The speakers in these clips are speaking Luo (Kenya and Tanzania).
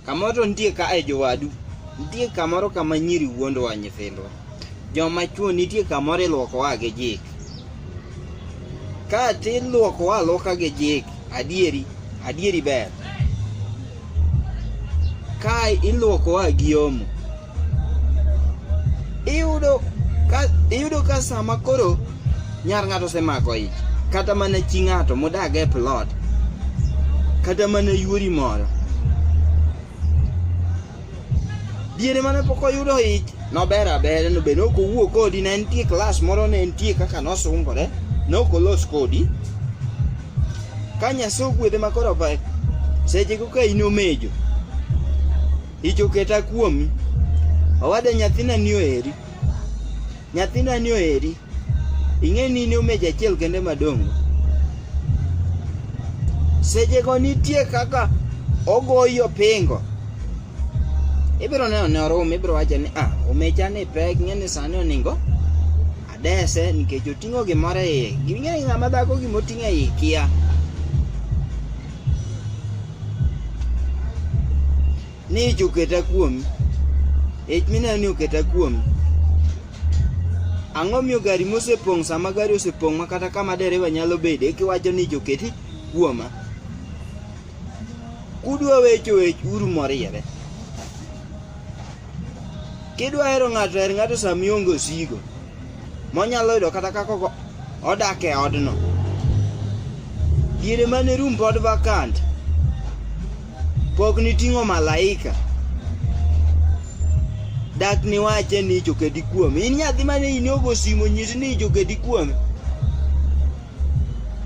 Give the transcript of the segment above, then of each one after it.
Kamoro to nitie ka e jowadu, nitie kamoro kama nyiri wuondowa nyithindwa. Joma chwo nitie kamoro ilwokowa gi jik. Ka ti ilwokowa alwoka gi jik, adieri, adieri ber. Ka ilwokowa gi omo. iyudo ka iyudo ka sama koro nyar ng'ato osemako ich kata mana chi ng'ato modag e plot kata mana yuori moro diere mane pok oyudo ich nober aber nobed ok owuo kodi ne entie klas moro ne entie kaka nosungore ne ok olos kodi ka nyaso ogwedhe makoro sechego ka in omejo Ich oketa kuomi. Owada nyathina ni oheri. Nyathina ni oheri. Ing'e ni in omeja achiel kende madongo. Sechego nitie kaka ogoyi opingo. Ibiro neno ne orum, ibiro wacho ni ah, omecha ni pek, ing'e ni sani oningo dese nikech oting'o gimoro e iye. Ging'e ng'ama dhako gima oting'o e iye kia. ni ich oketa kuomi ich mineno ni oketa kuomi ang'o miyo gari mosepong' sama gari osepong' ma kata kama dereva nyalo bede kiwacho ni ich oketi kuoma kudwa wecho wech uru moriere kidwa hero ng'ato her ng'ato sama ionge osigo monyalo yudo kata kaka odak e odno diere mane rum pod vakant pok niting'o malaika dak niwache ni jokedi kuome in nyathi mane in ogo simo nyisi ni jokedi kuome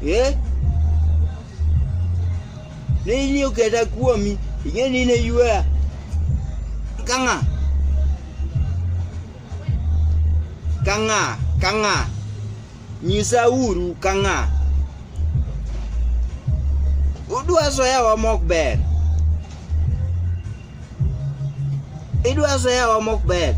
eh? ne in oketa kuomi ing'e ni ne yueya kang'a ka ng'a ka ng'a nyisa uru ka ng'a udwa soyawa mok ber idwa soyawa mok ber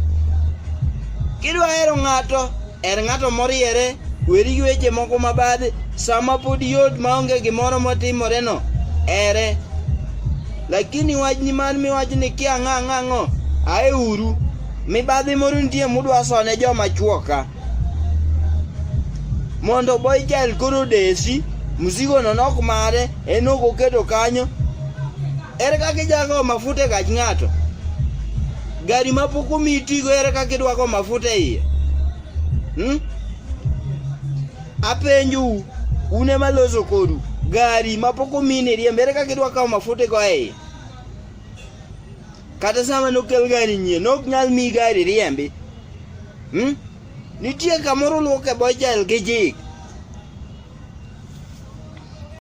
kidwa hero ng'ato er ng'ato moriere weri gi weche moko mabadhi sama pod yot maonge gimoro motimoreno ere lakini wachni mar miwach ni kia ng'a ng'ang'o ae uru Mibadhi moro nitie mudwa sone joma chuoka mondo boychel koro desi mzigono nok mare en ok oketo kanyo ere kaka ijago mafuta e gach ng'ato gari ma pok omi itigo ere kaka idwako mafuta e iye hmm? apenjou un ema loso kodu gari ma pok omi ni riembo ere kaka idwako mafuta e go e iye Kata sama nokel gari nyie, nok nyal mi gari riembi. Hmm? Nitie kamoro luoke bochel gi jik.